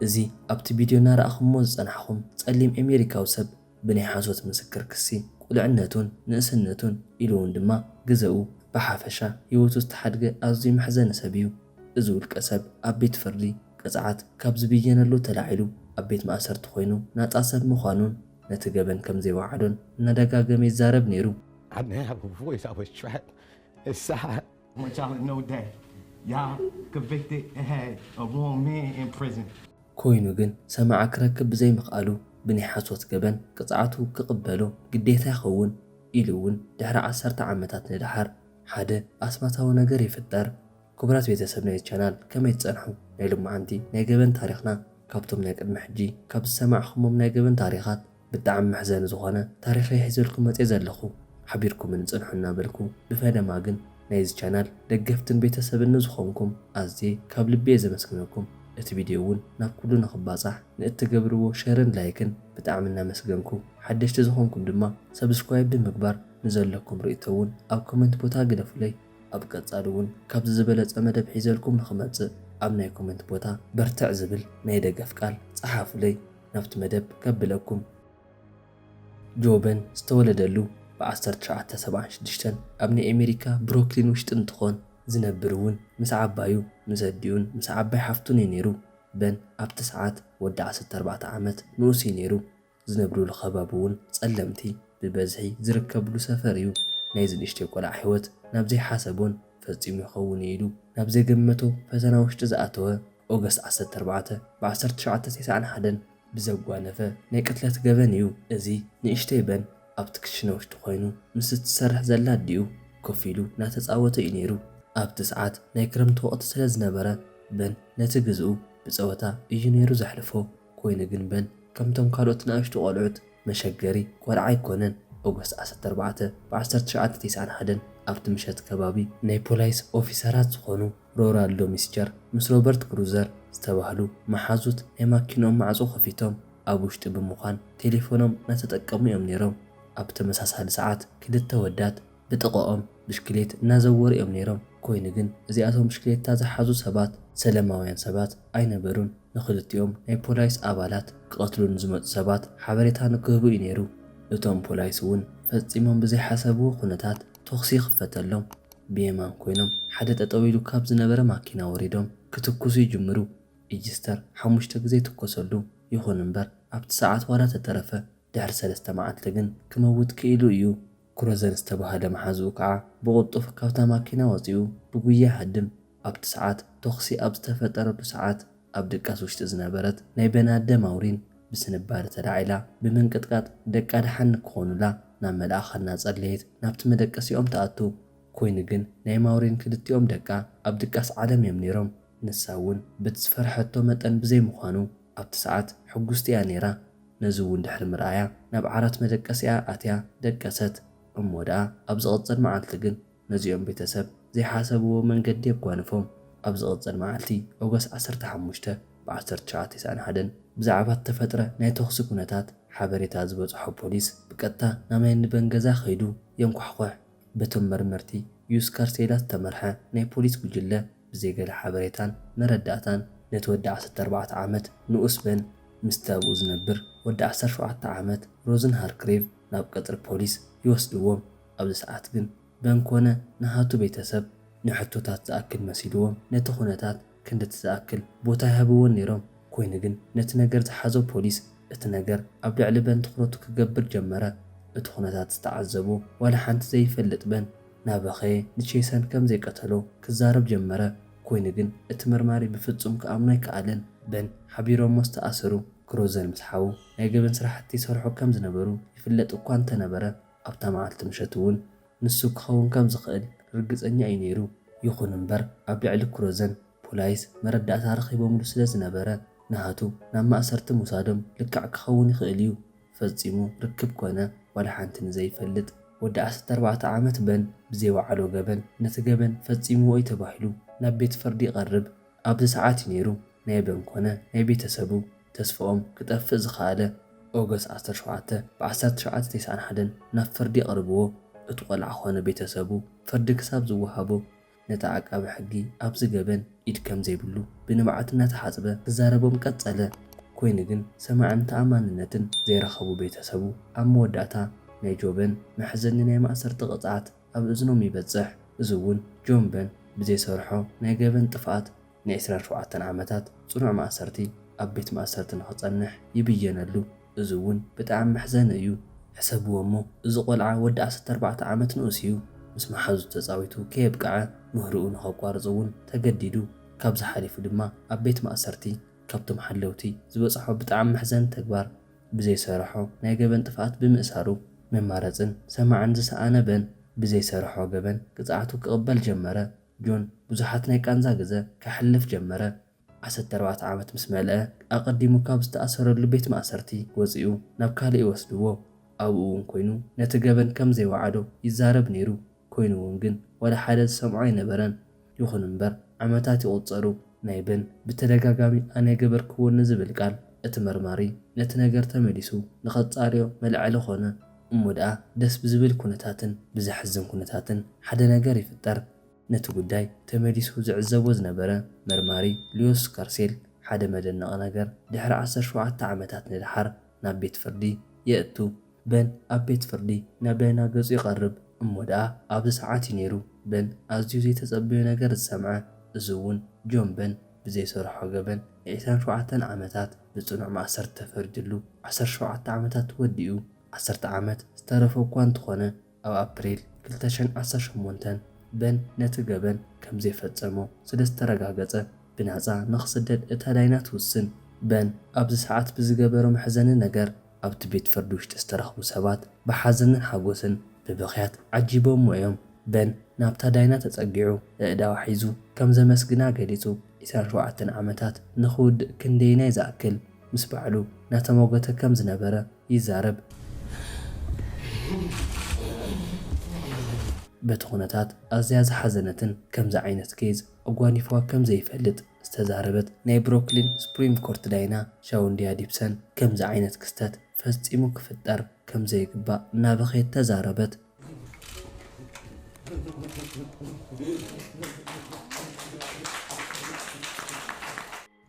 እዚ ኣብቲ ቢድዮ እናረኣኹምዎ ዝጸናሕኹም ጸሊም ኤሜሪካዊ ሰብ ብናይ ሓሶት ምስክር ክሲ ቁልዕነቱን ንእስነቱን ኢሉውን ድማ ግዘኡ ብሓፈሻ ህይወቱ ዝተሓድገ ኣዝዩ መሕዘኒ ሰብ እዩ። እዚ ውልቀ ሰብ ኣብ ቤት ፍርዲ ቅፅዓት ካብ ዝብየነሉ ተላዒሉ ኣብ ቤት ማእሰርቲ ኮይኑ ናፃ ሰብ ምዃኑን ነቲ ገበን ከምዘይወዓሎን እናደጋገመ ይዛረብ ነይሩ። ኮይኑ ግን ሰማዒ ክረክብ ብዘይምኽኣሉ ብናይ ሓሶት ገበን ቅፅዓቱ ክቕበሎ ግዴታ ይኸውን ኢሉ እውን ድሕሪ ዓሰርተ ዓመታት ንደሓር ሓደ ኣስማታዊ ነገር ይፍጠር። ክቡራት ቤተሰብ ናይዚ ቻናል ከመይ ትፀንሑ? ናይ ሎማዓንቲ ናይ ገበን ታሪኽና ካብቶም ናይ ቅድሚ ሕጂ ካብ ዝሰማዕኹሞም ናይ ገበን ታሪኻት፣ ብጣዕሚ መሕዘኒ ዝኾነ ታሪኸይ ሒዘልኩም መጼ ዘለኹ ሓቢርኩምኒ ጽንሑ እናበልኩ ብፈለማ ግን ናይዚ ቻናል ደገፍትን ቤተሰብን ንዝኾንኩም ኣዝየ ካብ ልቢየ ዘመስግነኩም እቲ ቪድዮ ውን ናብ ኩሉ ንኽባጻሕ ንእትገብርዎ ሸርን ላይክን ብጣዕሚ እናመስገንኩ ሓደሽቲ ዝኾንኩም ድማ ሰብስክራይብ ብምግባር ንዘለኩም ርእቶ ውን ኣብ ኮመንት ቦታ ግደፉለይ ኣብ ቀጻሊ ውን ካብዚ ዝበለጸ መደብ ሒዘልኩም ንኽመጽእ ኣብ ናይ ኮመንት ቦታ በርትዕ ዝብል ናይ ደገፍ ቃል ጸሓፉለይ። ናብቲ መደብ ከብለኩም። ጆበን ዝተወለደሉ ብ ዓሰርተ ትሽዓተ ሰብዓን ሽዱሽተን ኣብ ናይ ኣሜሪካ ብሮክሊን ውሽጢ እንትኾን ዝነብር እውን ምስ ዓባዩ ምስ ኣዲኡን ምስ ዓባይ ሓፍቱን እዩ ነይሩ በን ኣብቲ ሰዓት ወዲ ዓሰርተ ኣርባዕተ ዓመት ንኡስ እዩ ነይሩ ዝነብርሉ ከባቢ እውን ፀለምቲ ብበዝሒ ዝርከብሉ ሰፈር እዩ ናይዚ ንእሽተይ ቆልዓ ሂወት ናብ ዘይሓሰቦን ፈፂሙ ይኸውን እዩ ኢሉ ናብ ዘይገመቶ ፈተና ውሽጢ ዝኣተወ ኦገስት ዓሰርተ ኣርባዕተ ብ ዓሰርተ ትሽዓተ ቴስዓን ሓደን ብዘጓነፈ ናይ ቅትለት ገበን እዩ እዚ ንእሽተይ በን ኣብቲ ክሽነ ውሽጢ ኮይኑ ምስ እትሰርሕ ዘላ ኣዲኡ ኮፍ ኢሉ እናተጻወተ እዩ ነይሩ ኣብቲ ሰዓት ናይ ክረምቲ ወቕቲ ስለ ዝነበረ በን ነቲ ግዝኡ ብጸወታ እዩ ነይሩ ዘሕልፎ ኮይኑ ግን በን ከምቶም ካልኦት ንኣሽቱ ቆልዑት መሸገሪ ቆልዓ ኣይኮነን ኦገስት ዓሰርተ ኣርባዕተ ብ ዓሰርተ ትሽዓተ ቴስዓን ሓደን ኣብቲ ምሸት ከባቢ ናይ ፖላይስ ኦፊሰራት ዝኾኑ ሮራልዶ ሚስቸር ምስ ሮበርት ግሩዘር ዝተባህሉ መሓዙት ናይ ማኪንኦም ማዕጾ ከፊቶም ኣብ ውሽጢ ብምዃን ቴሌፎኖም እናተጠቀሙ እዮም ነይሮም። ኣብ ተመሳሳሊ ሰዓት ክልተ ወዳት ብጥቐኦም ብሽክሌት እናዘወሩ እዮም ነይሮም፣ ኮይኑ ግን እዚኣቶም ብሽክሌታ ዝሓዙ ሰባት ሰለማውያን ሰባት ኣይነበሩን። ንኽልቲኦም ናይ ፖላይስ ኣባላት ክቐትሉ ንዝመጹ ሰባት ሓበሬታ ንክህቡ እዩ ነይሩ። እቶም ፖላይስ እውን ፈጺሞም ብዘይሓሰብዎ ኩነታት ቶኽሲ ይኽፈተሎም። ብየማን ኮይኖም ሓደ ጠጠው ኢሉ ካብ ዝነበረ ማኪና ወሪዶም ክትኩሱ ይጅምሩ። ኢጅስተር ሓሙሽተ ግዘ ይትኮሰሉ። ይኹን እምበር ኣብቲ ሰዓት ዋላ ተተረፈ ድሕሪ ሰለስተ መዓልቲ ግን ክመውት ክኢሉ እዩ። ክሮዘን ዝተበሃለ መሓዝኡ ከዓ ብቕልጡፍ ካብታ ማኪና ወፂኡ ብጉያ ሃድም። ኣብቲ ሰዓት ቶኽሲ ኣብ ዝተፈጠረሉ ሰዓት ኣብ ድቃስ ውሽጢ ዝነበረት ናይ በናደ ማውሪን ብስንባደ ተላዒላ ብምንቅጥቃጥ ደቃ ደሓን ንክኾኑላ ናብ መልኣከ እናፀለየት ናብቲ መደቀሲኦም ትኣቱ። ኮይኑ ግን ናይ ማውሪን ክልቲኦም ደቃ ኣብ ድቃስ ዓለም እዮም ነይሮም። ንሳ እውን በቲ ዝፈርሐቶ መጠን ብዘይምዃኑ ኣብቲ ሰዓት ሕጉስቲ እያ ነይራ። ነዚ እውን ድሕሪ ምርኣያ ናብ ዓራት መደቀሲኣ ኣትያ ደቀሰት። እሞ ደኣ ኣብ ዝቕፅል መዓልቲ ግን ነዚኦም ቤተሰብ ዘይሓሰብዎ መንገዲ የጓንፎም። ኣብ ዝቕጽል መዓልቲ ኦገስት ዓሰርተ ሓሙሽተ ብ ዓሰርተ ትሽዓተ ኢሳኣን ሓደን ብዛዕባ እተፈጥረ ናይ ተኹሲ ኩነታት ሓበሬታ ዝበጽሖ ፖሊስ ብቀጥታ ናብ ናይ ንበን ገዛ ከይዱ የንኳሕኩሕ። በቶም መርመርቲ ዩስ ካርሴላ ዝተመርሐ ናይ ፖሊስ ጉጅለ ብዘይ ገለ ሓበሬታን መረዳእታን ነቲ ወዲ ዓሰርተ ኣርባዕተ ዓመት ንኡስ በን ምስቲ ኣብኡ ዝነብር ወዲ ዓሰርተ ሸውዓተ ዓመት ሮዝን ሃርክሬቭ ናብ ቀጽሪ ፖሊስ ይወስድዎም። ኣብዚ ሰዓት ግን በን ኮነ ንሃቱ ቤተሰብ ንሕቶታት ዝኣክል መሲልዎም ነቲ ኩነታት ክንድቲ ዝኣክል ቦታ ኣይሃብዎን ነይሮም ኮይኑ ግን ነቲ ነገር ዝሓዞ ፖሊስ እቲ ነገር ኣብ ልዕሊ በን ትኩረቱ ክገብር ጀመረ እቲ ኩነታት ዝተዓዘቦ ዋላ ሓንቲ ዘይፈልጥ በን ናበኸየ ንቼሰን ከም ዘይቀተሎ ክዛረብ ጀመረ ኮይኑ ግን እቲ መርማሪ ብፍጹም ክኣምኖ ኣይከኣለን በን ሓቢሮሞ ዝተኣሰሩ ክሮዘን ምስ ሓዉ ናይ ገበን ስራሕቲ ይሰርሑ ከም ዝነበሩ ይፍለጥ እኳ እንተነበረ። ኣብታ መዓልቲ ምሸት እውን ንሱ ክኸውን ከም ዝኽእል ርግጸኛ እዩ ነይሩ። ይኹን እምበር፣ ኣብ ልዕሊ ክሮዘን ፖላይስ መረዳእታ ረኺቦምሉ ስለ ዝነበረ፣ ንሃቱ ናብ ማእሰርቲ ምውሳዶም ልክዕ ክኸውን ይኽእል እዩ። ፈጺሙ ርክብ ኰነ ዋላ ሓንቲ ንዘይፈልጥ ወዲ ዓሰርተ ኣርባዕተ ዓመት በን ብዘይወዓሎ ገበን ነቲ ገበን ፈጺምዎ እዩ ተባሂሉ ናብ ቤት ፍርዲ ይቐርብ። ኣብዚ ሰዓት እዩ ነይሩ ናይ በን ኮነ ናይ ቤተሰቡ ተስፍኦም ክጠፍእ ዝኸኣለ August ዓሰርተ ሸውዓተ ብ ዓሰርተ ትሽዓተ ቴስዓን ሓደን ናብ ፍርዲ ኣቕርብዎ እቱ ቆልዓ ኮነ ቤተሰቡ ፍርዲ ክሳብ ዝወሃቦ ነቲ ዓቃቢ ሕጊ ኣብዚ ገበን ኢድ ከምዘይብሉ ብንብዓት እናተሓፅበ ክዛረቦም ቀፀለ ኮይኑ ግን ሰማዕን ተኣማንነትን ዘይረኸቡ ቤተሰቡ ኣብ መወዳእታ ናይ ጆበን መሕዘኒ ናይ ማእሰርቲ ቅፅዓት ኣብ እዝኖም ይበጽሕ እዚ እውን ጆን በን ብዘይሰርሖ ናይ ገበን ጥፍኣት ን ዕስራን ኣርባዕተን ዓመታት ጽኑዕ ማእሰርቲ ኣብ ቤት ማእሰርቲ ንኽጸንሕ ይብየነሉ እዚ እውን ብጣዕሚ መሕዘኒ እዩ ሕሰብዎ እሞ እዚ ቆልዓ ወዲ ዓሰርተ ኣርባዕተ ዓመት ንኡስ እዩ ምስ መሓዙቱ ተጻዊቱ ከየብቅዐ ምህርኡ ንኸቋርጽ እውን ተገዲዱ ካብዚ ሓሊፉ ድማ ኣብ ቤት ማእሰርቲ ካብቶም ሓለውቲ ዝበጽሖ ብጣዕሚ መሕዘኒ ተግባር ብዘይሰረሖ ናይ ገበን ጥፍኣት ብምእሳሩ መማረጽን ሰማዕን ዝሰኣነ በን ብዘይሰረሖ ገበን ቅጽዓቱ ክቕበል ጀመረ። ጆን ብዙሓት ናይ ቃንዛ ግዘ ከሕልፍ ጀመረ። ዓሰርተ ኣርባዕተ ዓመት ምስ መልአ ኣቐዲሙ ካብ ዝተኣሰረሉ ቤት ማእሰርቲ ወጺኡ ናብ ካልእ ይወስድዎ። ኣብኡ'ውን ኮይኑ ነቲ ገበን ከም ዘይወዓዶ ይዛረብ ነይሩ። ኮይኑ'ውን ግን ዋላ ሓደ ዝሰምዖ ኣይነበረን። ይኹን እምበር ዓመታት ይቑጸሩ። ናይ በን ብተደጋጋሚ ኣነ ኣይገበርክዎን ንዝብል ቃል እቲ መርማሪ ነቲ ነገር ተመሊሱ ንኸጻርዮ መልዐሊ ኮነ። እሞ ደኣ ደስ ብዝብል ኩነታትን ብዘሕዝን ኩነታትን ሓደ ነገር ይፍጠር። ነቲ ጉዳይ ተመሊሱ ዝዕዘቦ ዝነበረ መርማሪ ሊዮስ ስካርሴል ሓደ መደነቒ ነገር ድሕሪ ዓሰርተ ሸውዓተ ዓመታት ንደሓር ናብ ቤት ፍርዲ የእቱ። በን ኣብ ቤት ፍርዲ ናብ ዳይና ገጹ ይቐርብ። እሞ ደኣ ኣብዚ ሰዓት እዩ ነይሩ በን ኣዝዩ ዘይተጸበዮ ነገር ዝሰምዐ። እዚ እውን ጆን በን ብዘይሰርሖ ገበን ንዒስራን ሸውዓተን ዓመታት ብጽኑዕ ማእሰርቲ ተፈሪድሉ ዓሰርተ ሸውዓተ ዓመታት ወዲኡ። ዓሰርተ ዓመት ዝተረፎ እኳ እንተኾነ ኣብ ኣፕሪል ክልተ ሽሕን ዓሰርተ ሸሞንተን በን ነቲ ገበን ከም ዘይፈጸሞ ስለ ዝተረጋገጸ ብናጻ ንኽስደድ እታ ዳይና ትውስን። በን ኣብዚ ሰዓት ብዝገበሮ መሕዘኒ ነገር ኣብቲ ቤት ፍርዲ ውሽጢ ዝተረኽቡ ሰባት ብሓዘንን ሓጎስን ብብኽያት ዓጂቦምዎ እዮም። በን ናብታ ዳይና ተጸጊዑ ኣእዳዋ ሒዙ ከም ዘመስግና ገሊጹ። ዕስራን ሸውዓተን ዓመታት ንኽውድእ ክንደየናይ ዝኣክል ምስ ባዕሉ እናተሟገተ ከም ዝነበረ፣ ይዛረብ። በቲ ኩነታት ኣዝያ ዝሓዘነትን ከምዚ ዓይነት ኬዝ ኣጓኒፍዋ ከም ዘይፈልጥ ዝተዛረበት ናይ ብሮክሊን ስፕሪም ኮርት ዳይና ሻውንድያ ዲፕሰን ከምዚ ዓይነት ክስተት ፈጺሙ ክፍጠር ከም ዘይግባእ እናበኸየት ተዛረበት።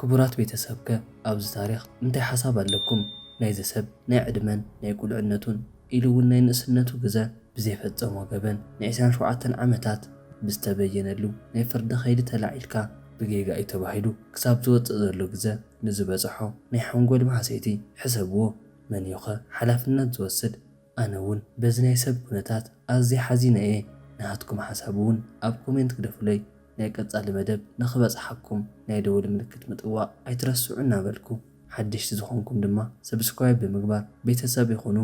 ክቡራት ቤተሰብ ከ ኣብዚ ታሪኽ እንታይ ሓሳብ ኣለኩም? ናይዚ ሰብ ናይ ዕድመን ናይ ቁልዕነቱን ኢሉ ውን ናይ ንእስነቱ ግዘ ብዘይፈፀሞ ገበን ን ዕስራን ሸውዓተን ዓመታት ብዝተበየነሉ ናይ ፍርዲ ከይዲ ተላዒልካ ብጌጋ እዩ ተባሂሉ ክሳብ ዝወፅእ ዘሎ ግዘ ንዝበፀሖ ናይ ሓንጎል ማህሰይቲ ሕሰብዎ መን እዩ ከ ሓላፍነት ዝወስድ? ኣነ ውን በዚ ናይ ሰብ ኩነታት ኣዝየ ሓዚነ እየ ናሃትኩም ሓሳብ ውን ኣብ ኮሜንት ግደፉለይ ናይ ቀጻሊ መደብ ንክበጽሓኩም ናይ ደወል ምልክት ምጥዋቅ ኣይትረስዑ እናበልኩ ሓደሽቲ ዝኮንኩም ድማ ሰብስክራይብ ብምግባር ቤተሰብ ይኩኑ።